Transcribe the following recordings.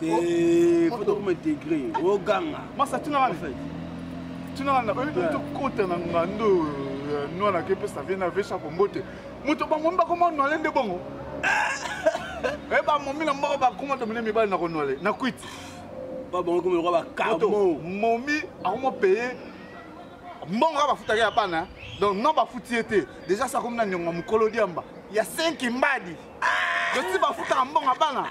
te faut tokoma integre oganga masa tuna ngai fait tuna ngai nakoki mpe tokota na ngando euh, nwana ake mpe save na vecha kombote moto bangomi bakoma nwale nde bongo e eh, bamomi na mboko bakoma to mine mibali na konwale na kwiti babongokoma lokola bakamo momi akoma paye mbongo kaka bafutaki ya bana donc non bafuti ye te déjà sakomi na niongo ya mokolo diamba ya 5 mbadi ah! dosi bafutaka mbongo ya bana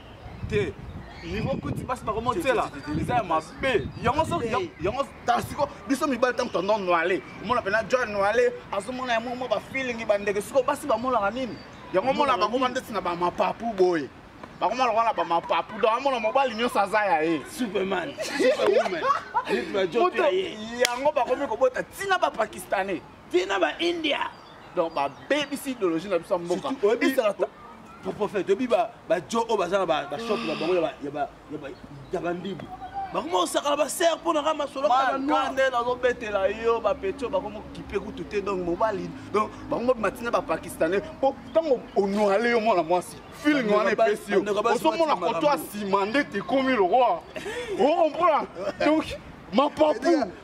te niveau kuti basi bakomotiela eza ya mabe yango so yango tala siko biso mibali ntango tondo noile omona mpena john noile azomona yango mwa bafilingi bandeke siko basi bamonaka nini yango omona bakoma ndeti na bamapapu boye bakoma lokola na bamapapu donc amona mobali nyonso aza ya ye superman superwoman yango bakomi kobota ntina bapakistanais ti na ba india donc babebisi idéologie na biso ya mboka prophète oyebi bajo oyo baza na bashop na bango ya bandibu bakoma kosakana basere mpo na ka masolo kaka nde nazobetela yo bapetio bakoma kokipe kutu te donc mobali donc bakoma matina bapakistanais mpo ntango onoale yo mwana mwasi feeling wana epesi yo ozomona koto asima nde tekomi lokola okomprendre donc mapapu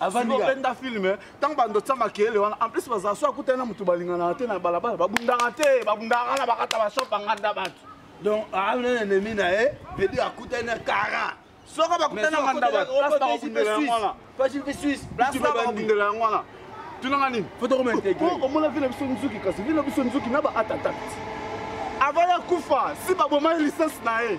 obenda filme ntango bando tya makele wana en plus bazala so akutani na moto balinganaka te na balabala babundaka te babundaka na bakata bashop anganda bato donc aami ah, na enemi na ye vedi akutani na kara soko bakutani na nganda bato babundela yango wana tunanga nini omona vile biso nzuki kasi vile biso nzuki na ba atatakt avant ya kufa si babomai licence na ye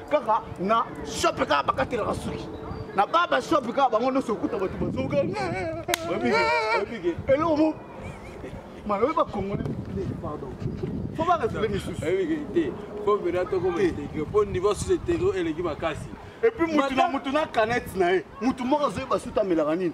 kaka na shop kaka bakatelaka suki na ba ba shop kaka bango nyonso okuta bato bazoka eloko mo malobi bakongole pardon fo baresole misusu te fo bena tokoma integre mpo niveau susu integre eleki makasi epuis mutu na mutu na canete na ye mutu moko azoyeba suta amelaka nini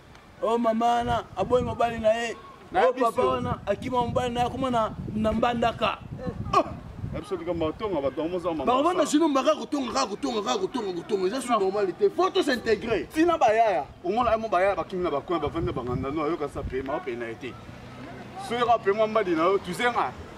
o oh, mama wana aboyi mobali na ye o oh, papa wana akima mobali na ye akoma na mbandaka bakobanda sino mbaka kotonga kaka kotonga kaka kotonga kotonga eza su normal te fo tosintégre ntina bayaya omona mo bayaya bakimi na bakoin bavandi na banganda no ayoka sa pema opena ye te soki ka pema mbadi na yo tuzenga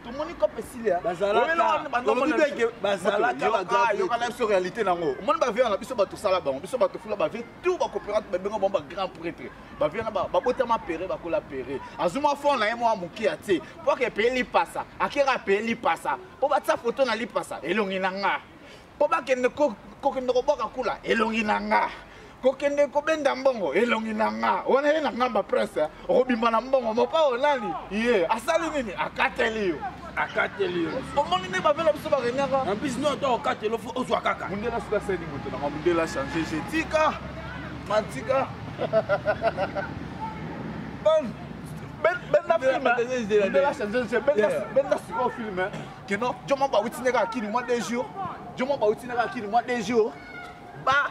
tomoni cope esilia bazalakayoka na biso réalité na yango omoni bavie wana biso bato sala bango biso bato fula bavie tu bacoopérante babenga bango bagrand prêtre bavie wana babotama pere bakola pere azwi mwa fond na ye mwa moke ya te mpo aka epeye lipasa akera apeye lipasa mpo batia foto na lipasa elongi na nga mpo bakende kokende kobwaka kula elongi na nga kokende kobenda mbongo elongi na nga wana ye na ngamba presse okobima na mbongo mopao nani ye asali nini akateli yo akateli yo omoni nde bavela biso barenyaka en plus no to okateli ofo ozwa kaka mundela soki asali moto nanga mundela change je tika matika benda filme benda change je benda sikoyo filme que non djo moko bawuti nde kaka kini mwa deux jours djo moko bawuti nde kaka kini mwa deux jours ba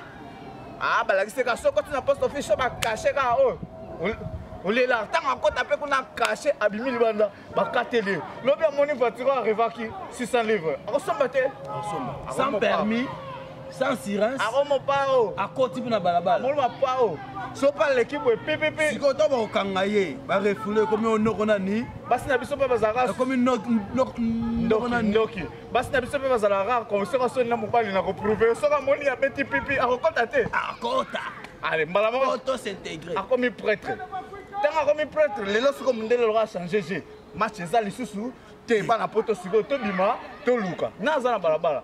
ah, balakisi kaka soki oti na poste office so bakashe kaka oyo oh, olela ntango akota mpe kuna kashe abimi libanda bakateli ye lobi amoni voiture arevaki 600 livre akosomba te sans permis sans sirens akomo pao akoti mpe na balabala moloma pao sopa aleki boye pepepe sikoyo to bakokanga ye barefule ekomi onoko nani basi na biso mpe bazalaka ekomi ndoki basi na biso mpe bazala rare ko soki asoni na mobali na koprouve soki amoni abeti pipi akokota te akota ale mbala moko to s'intégrer akomi prêtre ntango akomi prêtre lelo soko mondele loka achange je match eza lisusu te bana poto sikoyo tobima toluka na aza na balabala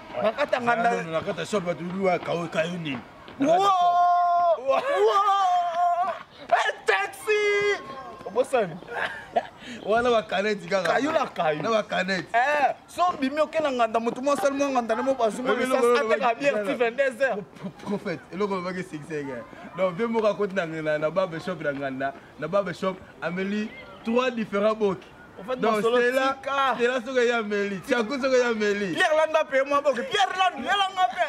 nakata nganda nakata shop bato lua kayo kayo nini taxi obosani wana bakaneti kaka kayo na kayo na bakaneti eh, so bimi oke na nganda motu mwa asali mwa nganda na mo bazumbaateka biere ti 22 heures prophète eloko lobaki esikiseke donc vie moko akoti na babe shop na nganda na babe shop ameli trois différents boki Donc Stella, Stella soki ya Meli, Chaku soki ya Meli. Pierre Landa pe moi boke. Pierre Landa, yela nga pe.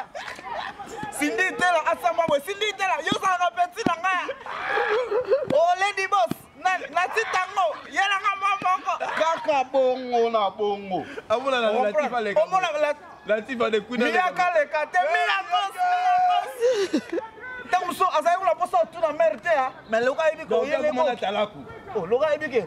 Cindy Tela asamba boye. Cindy Tela, yo za ka petit na nga. Oh Lady Boss, na na titango, yela nga mwa moko. Kaka bongo na bongo. Amona na la tifa le. Omona la la tifa de kuna. Mia ka le ka te mia kos. Tango so azali kuna posa tuna mère te. Mais loka yebi ko yele ko. Loka yebi ke.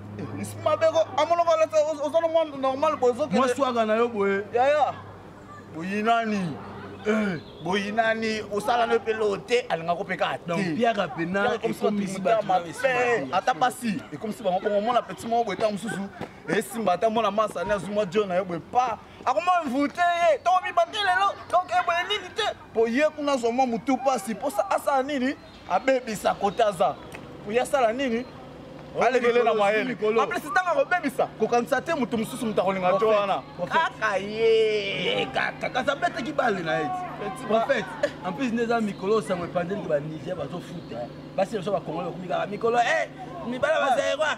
mabeko amonoko oza na mwa normal bozoke mwa swaka na yo boye yaya boyinani eh. boyinani osala no mpe loo te alinga ko mpe kaka tepiaka mpena ekomisi bato mabe ata basi ekomisi bango bongo omona peti moko boye ntango mosusu esimba ata mwana masani azwi mwa jo na yo boye pa akoma mvute ye toko mibate lelo donc eboye nini te mpo ye kuna azwa mwa motu mpasi mposa asala nini abebisa kote aza oyo asala nini alekele na mayele aplesi ntango akobebisa kokanisa te moto mosusu moto akolinga jo wana kaka ye kaka kasi abetaki bale na ye prophète en plus nde eza mikolo oyo sango epanzeli ke baniger bazofuta basi na biso bakongoli bakomi kaka mikolo e mibala bazaerwa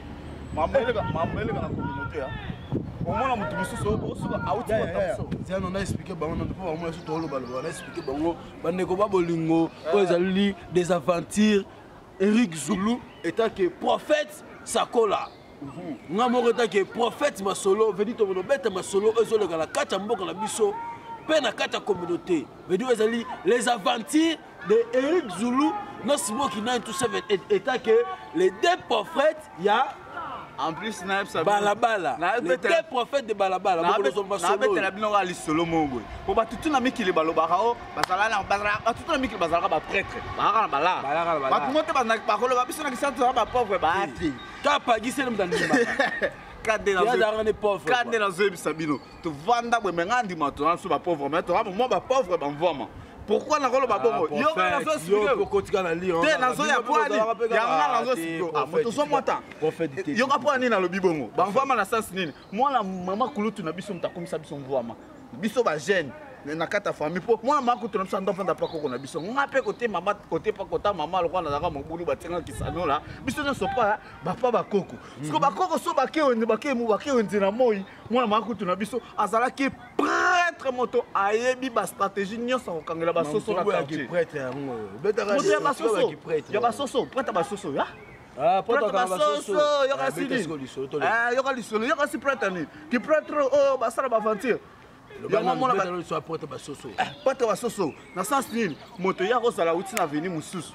mambo eleka mambo eleka na communauté ya omona moto mosusu osuka auti kotamso tiano na explike bango na mpo bango nyonso toolobaloba na explike bango bandeko ba bolingo eh. oyo ezali des aventures eric zulu etake prophète sakola mhm. nga moko etake prophète masolo vedi tomono beta masolo oyo ezoleka na kati ya mboka na biso mpe na kati ya communauté vedi oyo ezali les aventures de Eric Zulu na Simon Kinani tout ça état que les deux prophètes il y a en plus nayebisa balabala les deux prophètes de balabala nabetela bino kaka lisolo moko boye mpo bato tu na mikili balobaka o bato tu na mikili bazalaka baprêtre bazalaka na balaa bato mo te bakoloba biso na kisantu zala bapauvre baa te kaka pagisele moto andimaka kande nazoyebisa bino tovanda boye me ngai andima tona biso bapauvre me toa mwa bapauvre bamvwama pourquoi nakoloba bongo yo ngai nazoexplike te nazoya mpo ani ya ngai nazoexplike ozwa mwa tan yoka mpo ani nalobi bongo bamvwama na sense nini mwana mama kulutu na biso moto akomisa biso mvwama biso bajeune na kati ya famille mpo mwana mama kutu na biso ando afanda mpa koko na biso nga mpe kote mama kote mpa kota mama lokola nazalaka mobulu batinga kisanola biso nyonso mpa bapa bakoko siko bakoko so bakewenze bakewenze na moi mwana mwa kutu na biso azalaki prêtre moto ayebi bastratégie nyonso akokangela basoso na quartier prêtre yango obetaka moto ya basoso ya basoso prêtre ya basoso ya Ah, prêtre basoso yoka sili yoka lisolo yoka si prêtre nini ki prêtre oyo oh, oh, basala baventure prêtre basoso prêtre basoso na sens nini moto ye akozala uti na veni mosusu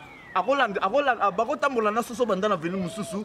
bakotambola na soso banda na veni mosusu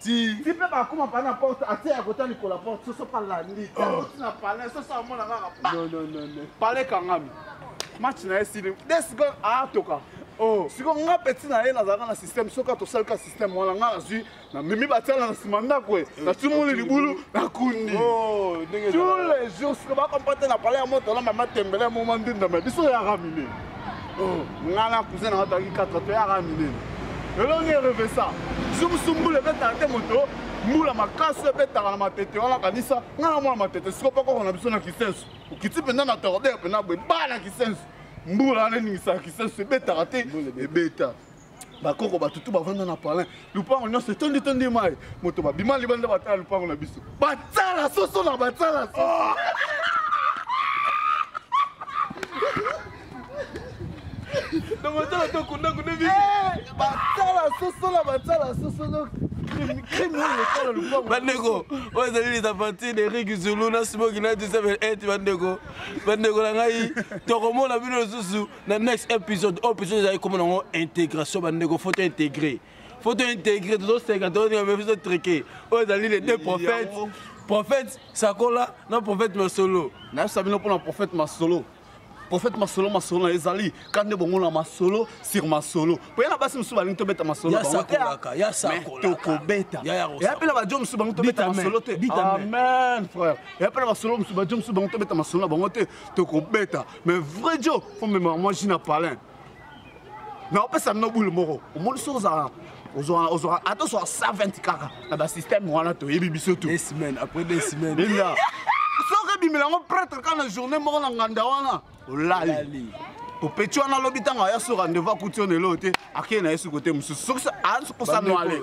ti ti mpe bakoma pa na porte ate ya kota likola porte soso pa landi oti na pale soso amona kaka pale kangami match na ye sili de seconde atoka oh. siko nga peti na ye nazalaka na système soki atosalika système wana nga nazwi namemi batiala na nsima ndako e natimoli eh, libulu nakundi oh, tous les jours siko bakompate na pale ya moto na mama tembele moma ndindama biso yaka mine Oh, ngai na cousin nanga toyaki 4 toyaka minene elongi erevesa sumusu mbula ebetaka te moto mbula makasi ebetaka na matete wana kanisa ngai na mwana matete siko mpe koko na biso na kisenso okiti mpenza na tordere mpenza boye baa na kisenso mbula wana eningisaka kisenso ebetaka te ebeta bakoko bato tu bavanda na palin lupango nyonso etondi tondi mai moto babima libanda batala lupango na biso batala soso na batala soso oh! namatala tokundakunda mingi eh, batala soso na batala soso donc bandeko oyo ezali les aventures de rik zulu na smoki na disabel et bandeko bandeko na ngai tokomona bino lisusu na next episode oyo episode ezali komona yango intégration bandeko faut tointégrer faut tointégrer tozoseka tozotrike oyo ezali les deux prophètes prophète sakola na prophète masolo nayebisa bino mpona prophète masolo prophète masolo masolo na ezali ka nde bongo na masolo sur masolo mpo ye na basi mosusu balingi tobeta masolo tokobeta eya mpe na bajo mosusu bango tobeta masolo te amen frère eya mpe na basolo mosusu bajo mosusu bango tobeta masolo na bango te tokobeta mais vrai jo fo memaka mwasi na palin na opesa bino bule moko omoni soki ozala ozwaka ata ozwaka 120 kaka na basystème wana toyebi biso to semaine après deux semaines enda soki ebimela yango pretre kaka na journée moko na nganda wana olali popeti wana alobi ntango aya so rendez-vous akuti yo na eloo te akei na ye soki kote mosusu soki akosanwale